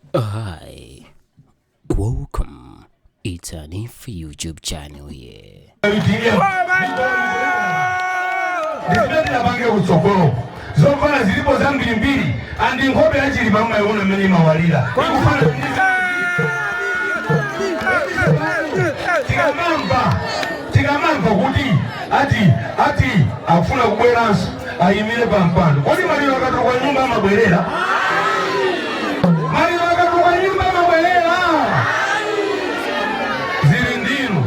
Hi, welcome. It's an If YouTube channel here. ndipite pang'ono kutsogolo zofuna zilipo zambirimbiri andi nkhope ya Chilima mukuiona mmene imawalira tikamamva tikamamva kuti ati ati akufuna kubweranso ayimire pa mpando kodi maliro akatuluka nyumba amabwerera maliro akatuluka nyumba amabwerera zili ndinu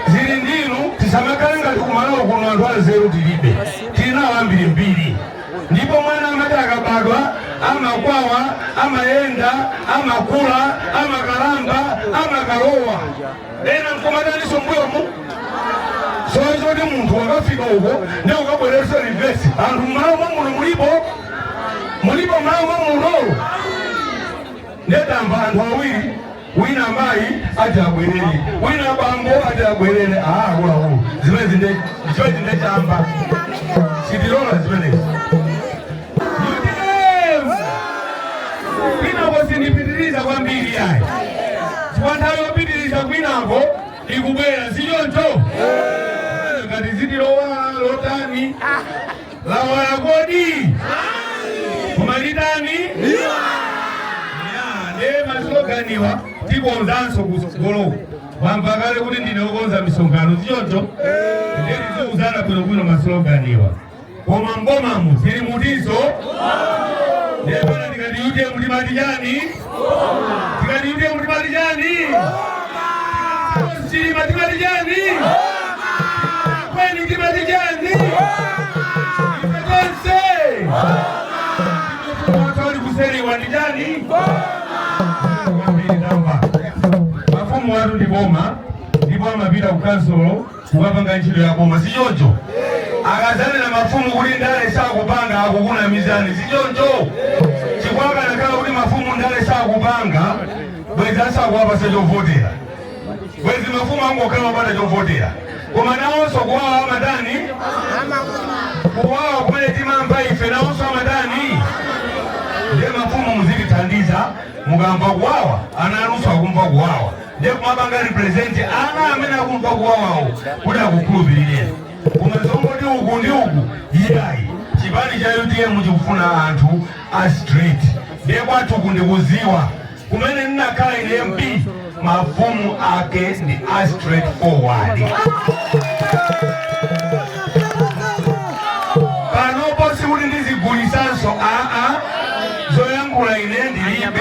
zili ndinu tisamakhale ngati kumalawo kuno anthu anzeru tilibe tilinawo ambirimbiri ndipo mwana amati akabadwa amakwawa amayenda amakula amakalamba amakalowa ena nkumataninso mbuyomu sowa choti munthu wakafika uko nde ukabweretsa reverse anthu mmalo mwa muno mulipo mulipo mmalo mwa muno ndikumva anthu awiri wina mayi ati abwerere wina bambo ati abwerere aa akuluakulu zimenezi nde zimenezi ndechamba sitilola zimenezi Utm! Kwinako sindipitiriza kwambiri yayi. Chifukwa nthawi yopitiriza kwinako ikubwera, si choncho? Ndikati dziti lowala lotani lawala kodi koma litani Ya, ndiye masiloganiwa tikonzanso kutsogoloku wamva kale kuti ndine wokonza misonkhano si choncho ndiye tiziuzana bwinobwino masiloganiwa koma m'bomamu zilimo izo ndepano ndikati UTM timati chani ndikati UTM timati chani chilima timati chani kweni timati chani ife tonse watoli kuseriwa ndi chani mafumu athu ndi boma ndipo amapita ku kansolo kumapanga ntchito ya boma sichoncho akadzanena mafumu kuti ndale sakupanga akukunamizani sichoncho chifukwa akanakhala kuti mafumu ndale sakupanga bwezi asakuwapatsa chovotera bwezi mafumu angokhala opanda chovotera koma nawonso kuwawa amatani kuwawa kumene timamva ife nawonso amatani ndiye mafumu muzitithandiza mukamva kuwawa ana anunso akumva kuwawa ndiye kumapanga represent ana amene akumva kuwawawa kuti akukhulupirire koma zongoti uku ndi uku iyayi chipani cha utm chikufuna anthu a straight ndiye kwathu ndikudziwa kumene ndinakhala ine mp mafumu ake ndi a straight forward panopo sikuti ndizigulisanso aa zoyankhula ine ndilibe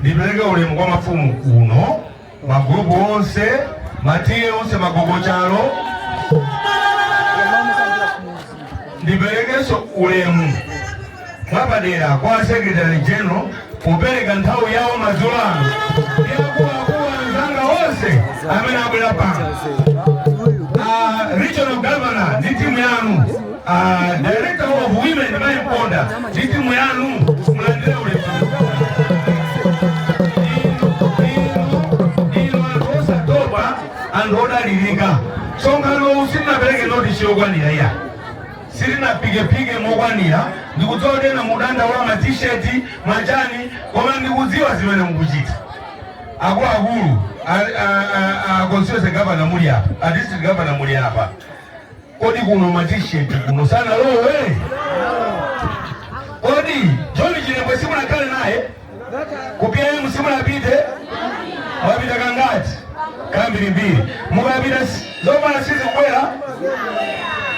ndipereke ulemu kwa mafumu kuno magulupu onse matiye onse magogo chalo ndiperekenso ulemu mwapadera kwa a secretary general kupereka nthawi yawo madzulo ano ndi akuluakulu anzanga onse amene abwera pano Ah, regional governor ndi timu yanu Ah, director of women Mai Mponda ndi timu yanu mulandire ulemu. Inu anthu osatopa anthu odalirika sonkhano sitinapereke notisi yokwanira iyayi sitinaphikephike mokwanira ndikudziwa kuti ena mudandaula matisheti machani koma ndikudziwa zimene mukuchita akuluakulu a- a- a- a constituency governor muli apa a district governor muli apa Kodi kuno ma t-shirt ano sanalowe? Kodi John Chilembwe simunakhale naye? Ku PIM simunapite? Mwapita kangati? Kambirimbiri. Mukapita s- zovala sizikubwera?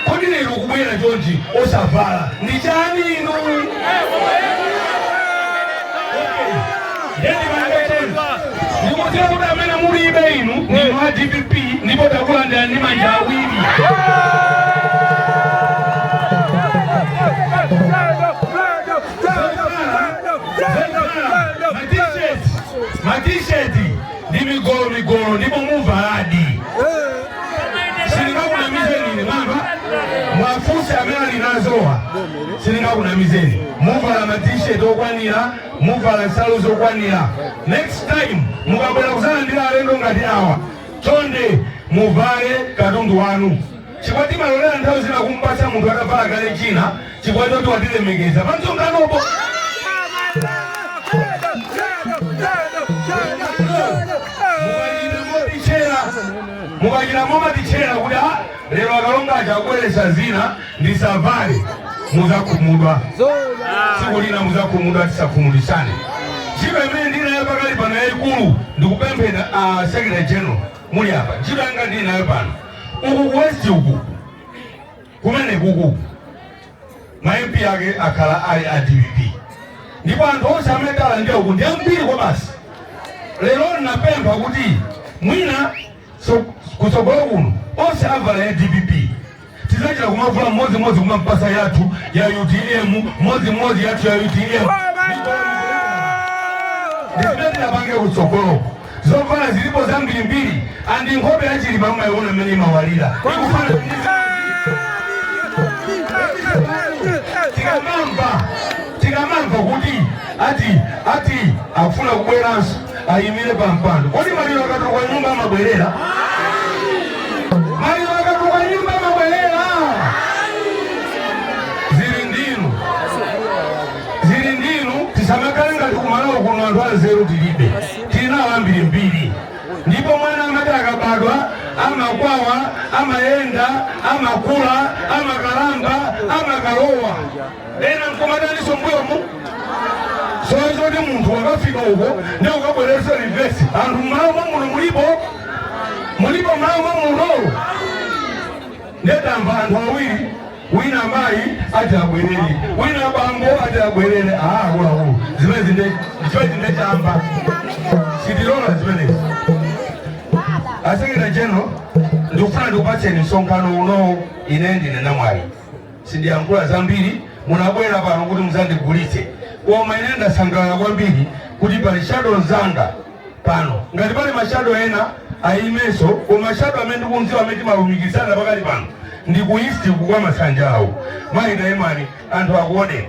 Kodi lero kubwera John osavala ndi chani inu? ndikudziwa kuti amene mulibe inu ndinu a dpp ndipo takulandira ndi manja awiri matisheti ndi migolo migolo ndipo muvaladi sindingakunamizeni ine mwamva muwafunse amene ali nazowa sindingakunamizeni muvala matisheti okwanira muvala nsalu zokwanira next time mukabwera kuzalandira alendo ngati awa chonde muvale katundu wanu chifukwa timalolera nthawi zina kumpatsa munthu atavala kale china chifukwa choti watilemekeza pamsonkhanopo mukachita momatichera kuti Lero akalonga aja akubweretsa zina musavale, muzakhumudwa tsiku lina, muzakhumudwa tisakhumudisane. Ntchito imene ndili nayo pakali pano yayikulu ndikupemphera a Secretary General muli apa, ntchito yanga ndili nayo pano uku ku West uku kumene kuku ma MP ake akhala ali a DPP ndipo anthu onse amene talandira uku ndi ambiri kwabasi. Lero napempha kuti mwina so kutsogolo kuno onse avala ya dpp tizachita kumavula mmodzi mmodzi kumampasa yathu ya utm mmodzi mmodzi yathu ya utm ndizimene tizapange kutsogolo zovala zilipo zambirimbiri za ndi nkhope ya Chilima mmayiona mmene imawalira ikufana ndi tikamamva tikamamva kuti ati ati akufuna kubweranso ayimire pa mpando kodi maliro akatuluka nyumba amabwerera maliro akatuluka nyumba amabwerera zili ndinu zili ndinu tisamakhale ngati kumalawi kuno anthu anzeru tilibe tilinawo ambirimbiri ndipo mwana amati akabadwa amakwawa amayenda amakula amakalamba amakalowa ena nkumataninso mbuyomu si zoti munthu wakafika uko nde akabwererenso reverse anthu mmalawi muno mulipo mulipo mmalawi muno nde tamva anthu awiri wina mayi ati abwerere wina bambo ati abwerere aakulawo zimenezi zimenezi nde chamba sitilola zimenezi a secretary general ndikufuna ndikupatseni msonkhano unowo ine ndine namwali sindiyankhula zambiri munabwera pano kuti muzandigulitse koma ine ndasangalala kwambiri kuti pali shadow mzanga pano ngati pali mashado ena ayimenso koma mashado amene ndikunziwa amene timalumikizana pakali pano ndi ku east kukwa masanja awo mayi taimani anthu akuoneni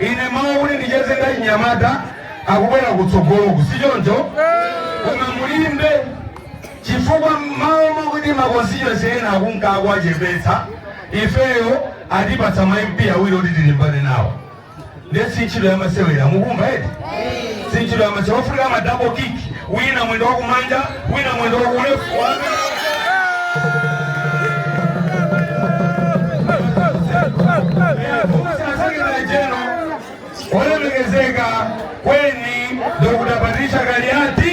Ine mawa kuti ndicheze ndi achinyamata akubwera kutsogoloku, si choncho? Koma mulimbe chifukwa mmalo mwakuti makonsitiyuwensi ena akunka akuwachepetsa, ifeyo atipatsa ma MP awiri oti tilimbane nawo. Nde si ntchito yamasewera mukumva eti? sinchilama chawafunika ma double kick wina mwendo wakumanja wina mwendo wakulefu jeno olemekezeka kweni Dr. Patricia Kaliati